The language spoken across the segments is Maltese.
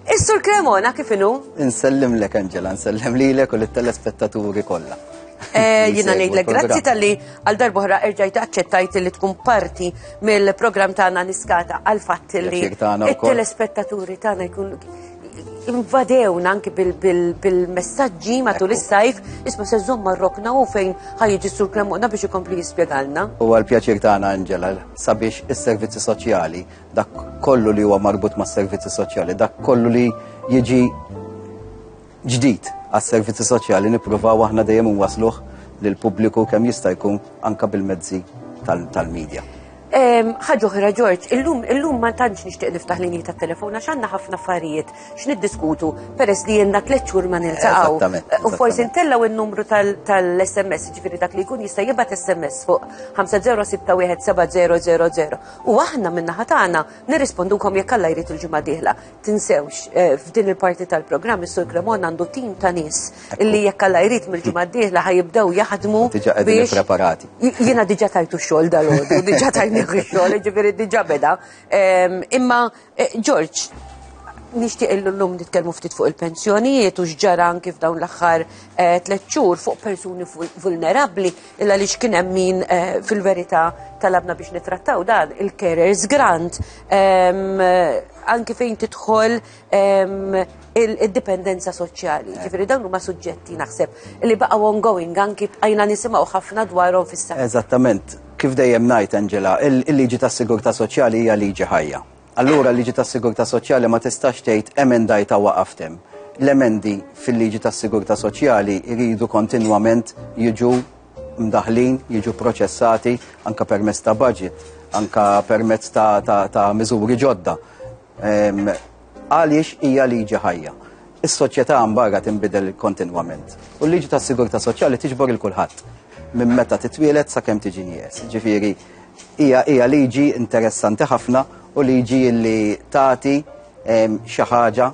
Is-Sur Cremona kif inhu? Insellimlek Angela, nsellem lilek u lit-telespettaturi kollha. Eh, jina ngħidlek grazzi tal-li għal darbohra erġajt aċċettajt li tkun parti mill-programm tagħna niskata għal fatt li it-telespettaturi tagħna jkun invadewna anki bil-messagġi matul is-sajf, isma se żomma rokna u fejn ħajġi sur kremona biex ikompli jispjegalna. U għal-pjaċir tagħna Angela sabiex is-servizzi soċjali Dak kollu li huwa marbut mas-servizzi soċjali, dak kollu li jiġi ġdid għas-servizzi soċjali nippruvaw aħna dejjem wasluh lil pubbliku kemm jista' jkun anka bil-mezzi tal-medja. Ħaġa oħra Ġorġ, illum illum ma tantx nixtieq niftaħ linji tat-telefon għax għandna ħafna affarijiet x'niddiskutu peress li jenna tliet xhur ma niltaqgħu. U forsi ntellgħu n-numru tal-SMS, ġifieri dak li jkun jista' jibgħat SMS fuq 50617000. U aħna min-naħa tagħna nirrispondukom jekk Alla jrid il-ġimgħa dieħla. Tinsewx eh, f'din il-parti tal-programm is-Sur Cremon għandu tim ta' nies illi jekk Alla jrid mill-ġimgħa dieħla ħajibdew jaħdmu biex preparati. Jiena diġà tajtu xogħol dal-għodu, diġà tajni xogħol, ġifieri diġà beda. Ehm, imma Eh, George, nixtieq illum nitkellmu ftit fuq il-pensjonijiet u x'ġara anki f'dawn l-aħħar eh, tliet xhur fuq persuni vulnerabbli illa li x'kien hemm min eh, fil-verità talabna biex nitrattaw dan il-carers grant ehm, anki fejn tidħol ehm, il-dipendenza soċjali. Eh. Ġifiri dawn huma suġġetti naħseb li baqgħu ongoing anki bqajna nisimgħu ħafna dwarhom fis-saħħa. Eżattament, kif dejjem ngħid Angela, il-liġi tas-sigurtà soċjali hija liġi ħajja. Allura l-liġi tas-sigurtà soċjali ma tistax tgħid emendajta waqaftem. L-emendi fil-liġi tas-sigurtà soċjali jridu kontinwament jiġu mdaħlin, jiġu proċessati anka permezz ta' budget, anka permezz ta', ta, ta miżuri ġodda. Għaliex hija liġi ħajja. Is-soċjetà mbarra tinbidel kontinwament. U l-liġi tas-sigurtà soċjali tiġbor il kulħadd minn meta titwielet sakemm tiġi nies. Ġifieri hija hija liġi interessanti ħafna u liġi li tagħti xi ħaġa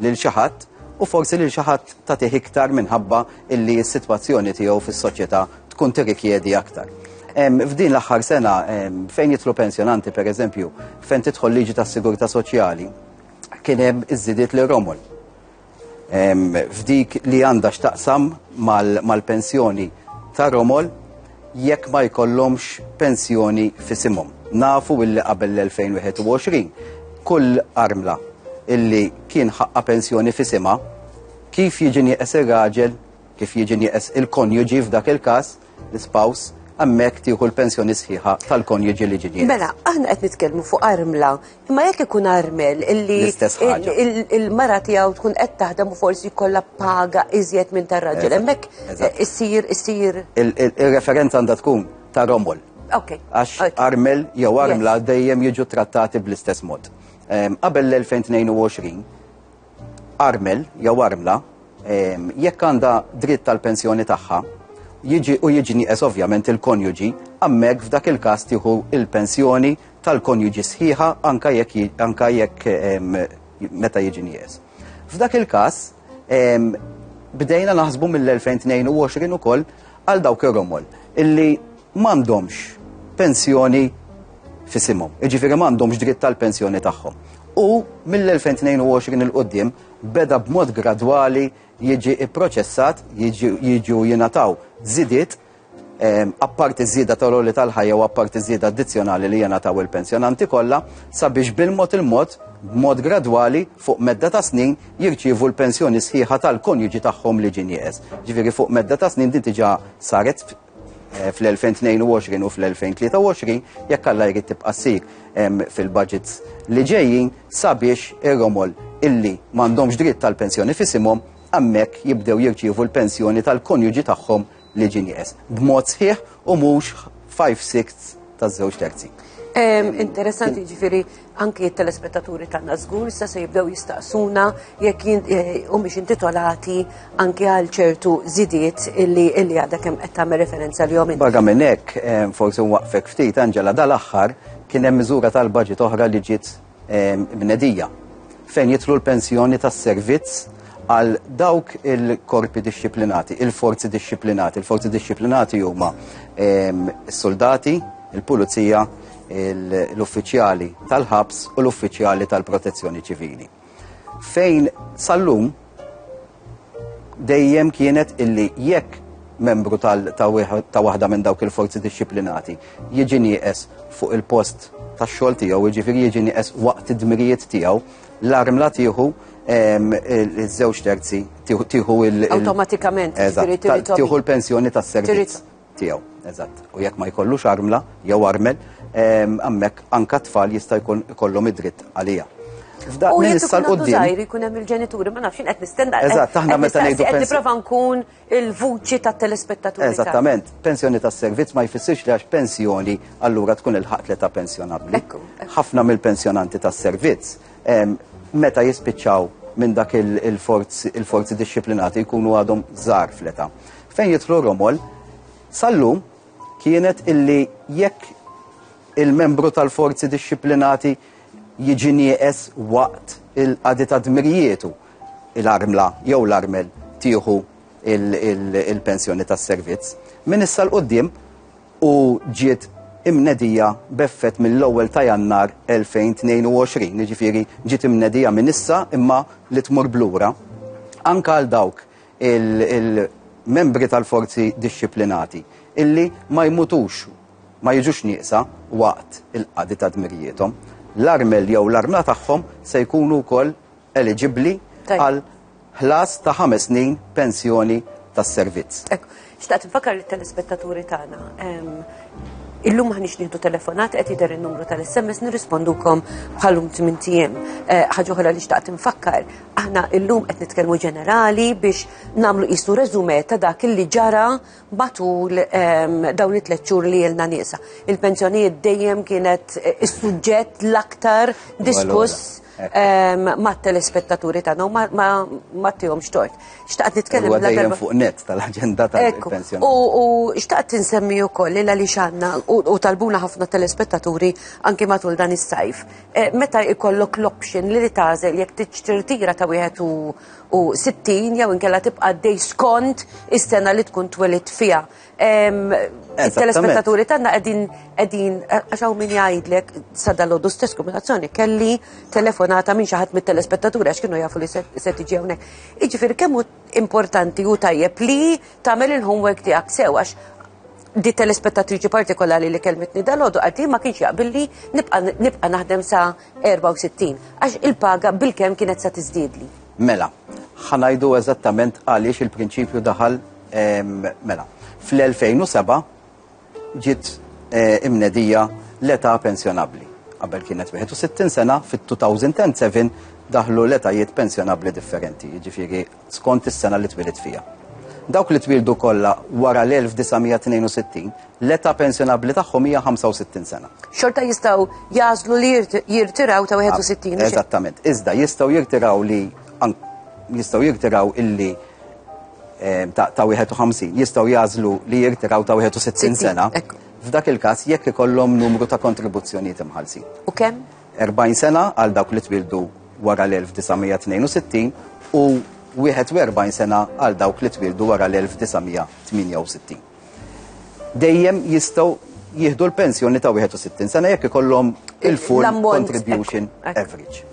lil xi ħadd u forsi lil xi ħadd tagħtih iktar minħabba illi s-sitwazzjoni tiegħu fis-soċjetà tkun tirrikjedi aktar. F'din l-aħħar sena fejn jitlu pensjonanti pereżempju fejn tidħol liġi tas-sigurtà soċjali kien hemm iżidiet li romol. F'dik li għandha x'taqsam mal-pensjoni ta' romol jekk ma jkollhomx pensjoni fisimhom. Nafu illi qabel l-2021 kull armla illi kien ħaqqa pensjoni fisima kif jiġi nieqes ir-raġel Kif jiġi nieqes il-konjuġi f'dak il-każ, l-ispouse, hemmhekk tieħu l-pensjoni sħiħa tal-konjuġi li ġie nieqes. Mela, aħna qed nitkellmu fuq armla, imma jekk ikun armel illi L-istess ħaġa. il- il- il-mara tiegħu tkun qed taħdem u forsi jkollha paga iżjed minn tar-raġel, Eżatt, hemmhekk eżatt. eh, issir issir Il- il- Ir-referenza għandha tkun ta' Romol. Okay. Għax okay. armel jew armla dejjem jiġu trattati bl-istess mod. Em, Qabel l-2022, Armel jew armla, jekk għandha dritt tal-pensjoni tagħha, jiġi u jiġi nieqes ovvjament il-konjuġi, hemmhekk f'dak il-każ tieħu il-pensjoni tal-konjuġi sħiħa anka jekk anka jekk meta jiġi nieqes. F'dak il-każ bdejna naħsbu mill-2022 ukoll għal dawk ir-romol illi m'għandhomx pensjoni f'isimhom, jiġifieri m'għandhomx dritt tal-pensjoni tagħhom. U mill-2022 il qudiem beda b'mod gradwali jiġi pproċessat, jiġu jingħataw żidiet Ehm, apparti żieda tal-oli tal-ħajja u apparti żieda addizzjonali li jena taw il-pensjonanti kollha sabiex bil-mod il-mod b'mod gradwali fuq medda ta' snin jirċievu l-pensjoni sħiħa tal-konjuġi tagħhom li ġin jeqes. Ġifieri fuq medda ta' snin din diġà saret Eh, fl-2022 u fl-2023 jekk alla jrid tibqa' ssir fil-budgets li ġejjin sabiex ir-romol illi m'għandhomx dritt tal-pensjoni fisimhom hemmhekk jibdew jirċievu l-pensjoni tal-konjuġi tagħhom li ġin jeqes b'mod sħiħ u mhux 5 6 taż-żewġ terzi. Interessanti ġifieri Anki t-telespettaturi tagħna żgur issa se jibdew jistaqsuna jekk humiex intitolati anki għal ċertu żidiet illi illi għadha kemm qed tagħmel referenza li inti. Barra minn hekk, forsi nwaqfek ftit Angela dal-aħħar kien hemm miżura tal-baġit oħra li ġiet bnedija fejn jidħlu l-pensjoni tas-servizz għal dawk il-korpi dixxiplinati, il-forzi dixxiplinati. Il-forzi dixxiplinati huma is-soldati, il-pulizija, l-uffiċjali tal-ħabs u l-uffiċjali tal-protezzjoni ċivili. Fejn sallum dejjem kienet illi jekk membru ta' waħda minn dawk il-forzi disciplinati jiġi nieqes fuq il-post tax xogħol tiegħu, jiġifieri jiġi nieqes waqt id-dmirijiet tiegħu, l-arm la tieħu iż-żewġ terzi tieħu il- Awtomatikament, jiġifieri tieħu l-pensjoni tas-servizz. tiegħu, eżatt. U jekk ma jkollux armla jew armel, hemmhekk anka tfal jista' jkun ikollhom id-dritt għalija. F'dak U jekk ikun għandu żgħir ikun hemm il-ġenituri, ma nafx qed nistenna. Eżatt, aħna meta ngħidu qed nipprova nkun il-vuċi tat-telespettaturi. Eżattament, pensjoni tas-servizz ma jfissirx li għax pensjoni allura tkun il-ħaqt li ta' pensjonabbli. Ħafna mill-pensjonanti tas-servizz meta jispiċċaw minn dak il-forzi disciplinati jkunu għadhom żgħar fleta. Fejn jitlu Romol, sallum kienet illi jekk il-membru tal-forzi disciplinati jiġi nieqes waqt il-qadi ta' dmirjietu l-armla jew l-armel tieħu il-pensjoni tas-servizz. Min issa l-qoddim u ġiet imnedija b'effett mill-ewwel ta' Jannar 2022, jiġifieri ġiet imnedija minn issa imma li tmur b'lura, anke għal dawk il-membri tal-forzi dixxiplinati illi ma jmutux, ma jiġux nieqsa waqt il-qadi ta' dmirijiethom. L-armel jew l-armla tagħhom se jkunu wkoll eliġibbli għal ħlas ta' ħames snin pensjoni tas-servizz. Xtaqt nfakkar li telespettaturi tagħna Illum ħanix nieħdu telefonat qed jidher in-numru tal-SMS nirrispondukom bħalum tmien tiem. Eh, ħaġa oħra li xtaqt infakkar, aħna illum qed nitkellmu ġenerali biex nagħmlu qisu reżume ta' dak li ġara matul dawn it-tliet xhur li ilna nieqsa. Il-pensjonijiet dejjem kienet eh, is-suġġett l-aktar diskuss ma' telespettaturi tagħna u ma tihomx tort. Xtaqt nitkellem dejjem fuq net tal-aġenda tal-pensjoni. U xtaqt insemmi wkoll li għaliex għandna u talbuna ħafna telespettaturi anki matul dan is-sajf. Eh, meta ikollok l-option li tagħżel jekk tiġtirtira ta' wieħed u u 60 jew inkella tibqa' għaddej skont is-sena li tkun twelid fiha. Il-telespettaturi tagħna qegħdin qegħdin għax hawn min jgħidlek sa dalodu stess kombinazzjoni kelli telefonata minn xi ħadd mit-telespettaturi għax kienu jafu li se tiġi hawnhekk. Jiġifieri kemm hu importanti u tajjeb li tagħmel il-homework tiegħek sew għax di telespettatriċi partikolari li kelmetni dalodu għaddi ma kienx jaqbilli nibqa' naħdem sa' 64 għax il-paga bil-kemm kienet sa tiżdiedli. Mela, ħanajdu eżattament għaliex il-prinċipju daħal mela. Fl-2007 ġiet eh, imnedija l-età pensjonabbli. Qabel kienet 61 sena, fit-2007 daħlu l-etajiet pensjonabbli differenti, jiġifieri skont is-sena li twieled fiha. Dawk li twieldu kollha wara l-1962, l-età pensjonabbli tagħhom hija 65 sena. Xorta jistgħu jażlu li jirtiraw ta' 61. Eżattament. Iżda jistgħu jirtiraw li jistgħu jirtiraw illi eh, ta' 51, jistgħu jażlu li jirtiraw ta' 61 sena. F'dak il-każ jekk ikollhom numru ta' kontribuzzjonijiet imħallsin. U kemm? 40 sena għal dawk li twildu wara l-1962 u 41 sena għal dawk li twildu wara l-1968. Dejjem jistgħu jieħdu l-pensjoni ta' 61 sena jekk ikollhom il-full contribution average.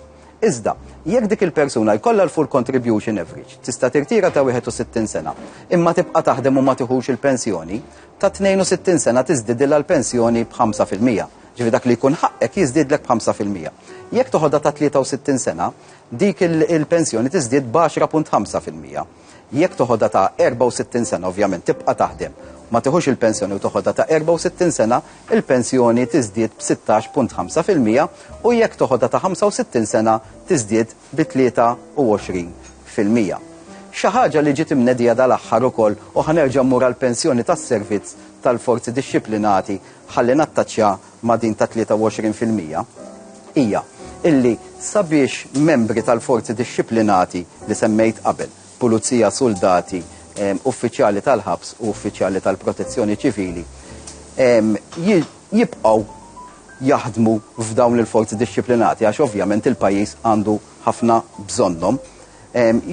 Iżda, jekk dik il-persuna jkollha l-full contribution average, tista' tirtira ta' 61 sena, imma tibqa' taħdem u ma tiħux il-pensjoni, ta' 62 sena tiżdidilha l-pensjoni b'5%. Ġifieri dak li jkun ħaqqek jiżdiedlek b'ħamsa fil-mija. Jekk toħodha ta' 63 sena, dik il-pensjoni tiżdied b'għaxra punt ħamsa fil-mija. Jekk toħodha ta' 64 sena, ovvjament tibqa' taħdem, ma tiħux il-pensjoni u toħodha ta' 64 sena, il-pensjoni tiżdied b'sittax punt ħamsa fil-mija u jekk toħodha ta' 65 sena tiżdied bi 23 fil-mija. Xi ħaġa li ġiet imnedija dal-aħħar ukoll u ħa nerġa' mmur għall-pensjoni tas-servizz tal-forzi dixxiplinati ħalli nattaċċja ma' din ta' 23 fil-mija, hija illi sabiex membri tal-forzi dixxiplinati li semmejt qabel, pulizija, suldati, uffiċjali tal-ħabs u uffiċjali tal-protezzjoni ċivili, jibqgħu jaħdmu f'dawn il-forzi dixxiplinati għax ovvjament il-pajjiż għandu ħafna bżonnhom,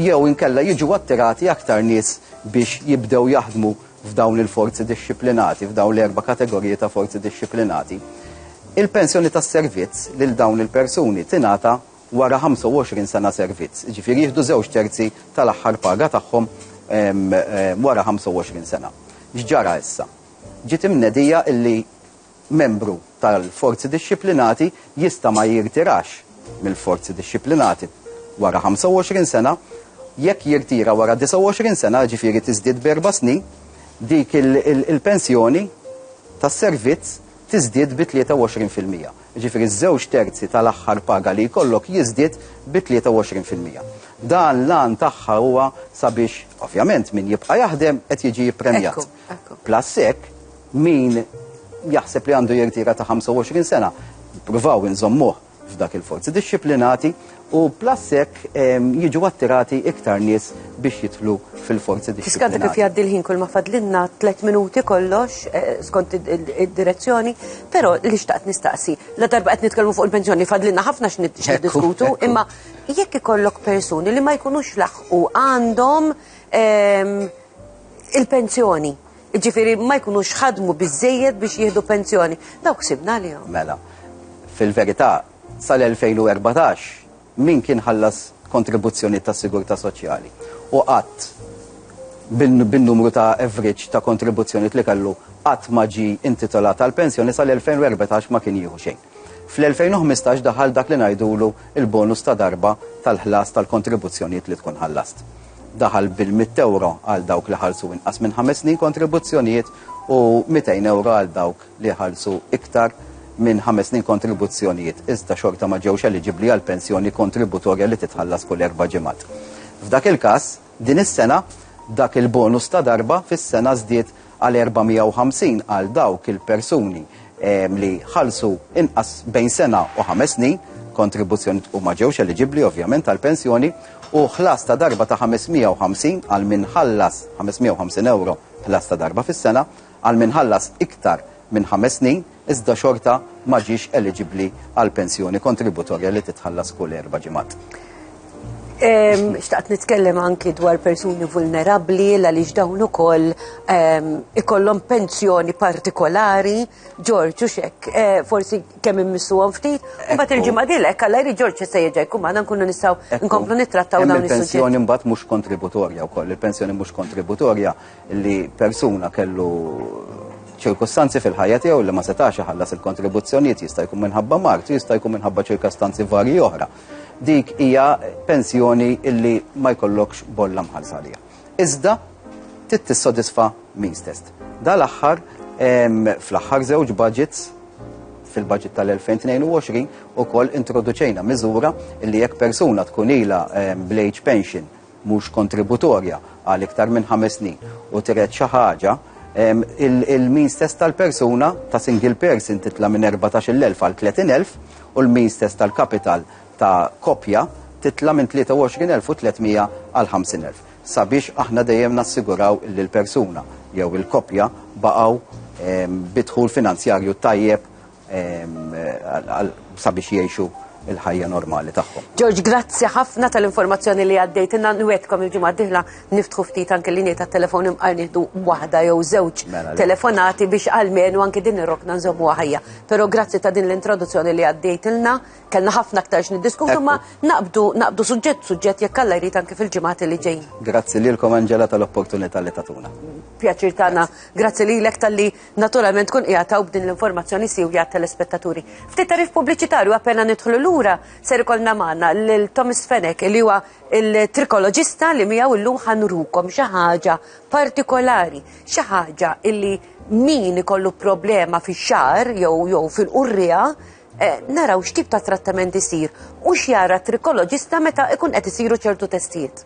jew inkella jiġu attirati aktar nies biex jibdew jaħdmu f'dawn il-forzi dixxiplinati, f'dawn l-erba' kategoriji ta' forzi dixxiplinati, il-pensjoni tas-servizz lil dawn il-persuni tingħata wara 25 sena servizz. Jiġifieri jieħdu żewġ terzi tal-aħħar paga tagħhom wara 25 sena. X'ġara issa? Ġiet imnedija illi Membru tal-Forzi Dixxiplinati jista' ma jirtirax mill-Forzi Dixxiplinati wara 25 sena. Jekk jirtira wara 29 sena, jiġifieri tiżdied b'erba' snin, dik il-pensjoni tas-servizz tiżdied bi 23 fil-mija. Jiġifieri ż-żewġ terzi tal-aħħar paga li jkollok jiżdied bi 23 fil-mija. Dan l-għan tagħha huwa sabiex, ovvjament, min jibqa' jaħdem qed jiġi ppremjat. Plus hekk, min jaħseb li għandu jirtira ta' 25 sena, provaw inżommuh f'dak il-forzi dixxiplinati u plus hekk jiġu attirati iktar nies biex jidħlu fil-forzi dixxiplinati. Tiskanta kif jgħaddi l-ħin kull ma fadlinna 3 minuti kollox eh, skont id-direzzjoni, però li xtaqt nistaqsi, la darba qed nitkellmu fuq il-pensjoni fadlinna ħafna x'niddiskutu, imma jekk ikollok persuni li ma jkunux laħqu għandhom ehm, il-pensjoni. Ġifiri, ma jkunux ħadmu biżżejjed biex jieħdu pensjoni. Dawk sibna li jom. Mela, fil-verità, sal-2014, min kien ħallas kontribuzzjoni ta' sigurta soċjali u qatt bin-numru ta' average ta' kontribuzzjoni li kellu qatt ma ġi intitolat għal pensjoni sal-2014 ma kien jieħu xejn. Fl-2015 daħal dak li ngħidulu il-bonus ta' darba tal-ħlas tal-kontribuzzjonijiet li tkun ħallast. daħal bil-100 ewro għal dawk li ħallsu inqas minn ħames snin kontribuzzjonijiet u 200 ewro għal dawk li ħallsu iktar minn ħames snin kontribuzzjonijiet, iżda xorta ma ġewx eliġibbli għal pensjoni kontributorja li titħallas kull erba' ġimgħat. F'dak il-każ, din is-sena dak il-bonus ta' darba fis-sena żdied għal 450 għal dawk il-persuni li ħallsu inqas bejn sena u ħames snin kontribuzzjoni u ma ġewx eliġibbli ovvjament għal pensjoni u ħlas ta' darba ta' 550 għal min ħallas 550 euro ħlas ta' darba fis-sena għal min ħallas iktar minn ħames snin iżda xorta ma ġiex eliġibbli għall-pensjoni kontributorja li titħallas kull erba' ġimgħat. Xtaqt nitkellem anki dwar persuni vulnerabli għaliex dawn ukoll ikollhom pensjoni partikolari, Ġorġ u xek, eh, forsi kemm immissuhom ftit, u mbagħad il-ġimgħa dilek għal jrid Ġorġ se jerġa' jkun magħna nkunu nistgħu nkomplu nittrattaw dawn il-pensjoni mbagħad mhux kontributorja wkoll, il-pensjoni mhux kontributorja li persuna kellu ċirkustanzi fil-ħajja tiegħu li ma setax iħallas il-kontribuzzjonijiet jista' jkun minħabba mart, jista' jkun minħabba ċirkustanzi varji oħra. Dik hija pensjoni illi ma jkollokx bolla mħallsa għalija. Iżda trid tissodisfa min stess. Dal-aħħar fl-aħħar żewġ budgets fil-budget tal-2022 u koll introduċejna miżura illi jekk persuna tkun ila bl-age pension mhux kontributorja għal iktar minn ħames snin u tred xi ħaġa, il-means test tal-persuna ta' single person titla' minn 14,000 għal 30,000 u l-means test tal-kapital ta' koppja titla' minn 23,300 għal 50,000 sabiex aħna dejjem nassiguraw li l-persuna jew il-koppja baqgħu bi dħul finanzjarju tajjeb sabiex jiexu il-ħajja normali tagħhom. George, grazzi ħafna tal-informazzjoni li għaddejt inna nwedkom il-ġimgħa diħla niftħu ftit anke linja ta' telefon imqar nieħdu waħda jew żewġ mela, telefonati biex għalmenu anke din ir-rokna nżommu ħajja. Però grazzi ta' din l-introduzzjoni li għaddejt ilna, kellna ħafna aktar x'niddiskutu ma naqbdu naqbdu suġġett suġġett jekk alla jrid anke fil-ġimgħati li ġejjin. Grazzi lilkom Angela tal-opportunità li tatuna. Pjaċir tagħna. Grazzi lilek tal-li naturalment tkun qiegħed hawn b'din l-informazzjoni siwja għat-telespettaturi. Ftit tarif pubbliċitarju appena nidħlu lura ser ikollna magħna lil Thomas Fenek li huwa il-trikoloġista li miegħu llum ħanrukom xi ħaġa partikolari, xi ħaġa illi min ikollu problema fix-xar jew jew fil-qurrija eh, naraw x'tip ta' trattament isir u x'jara trikoloġista meta ikun qed isiru ċertu testijiet.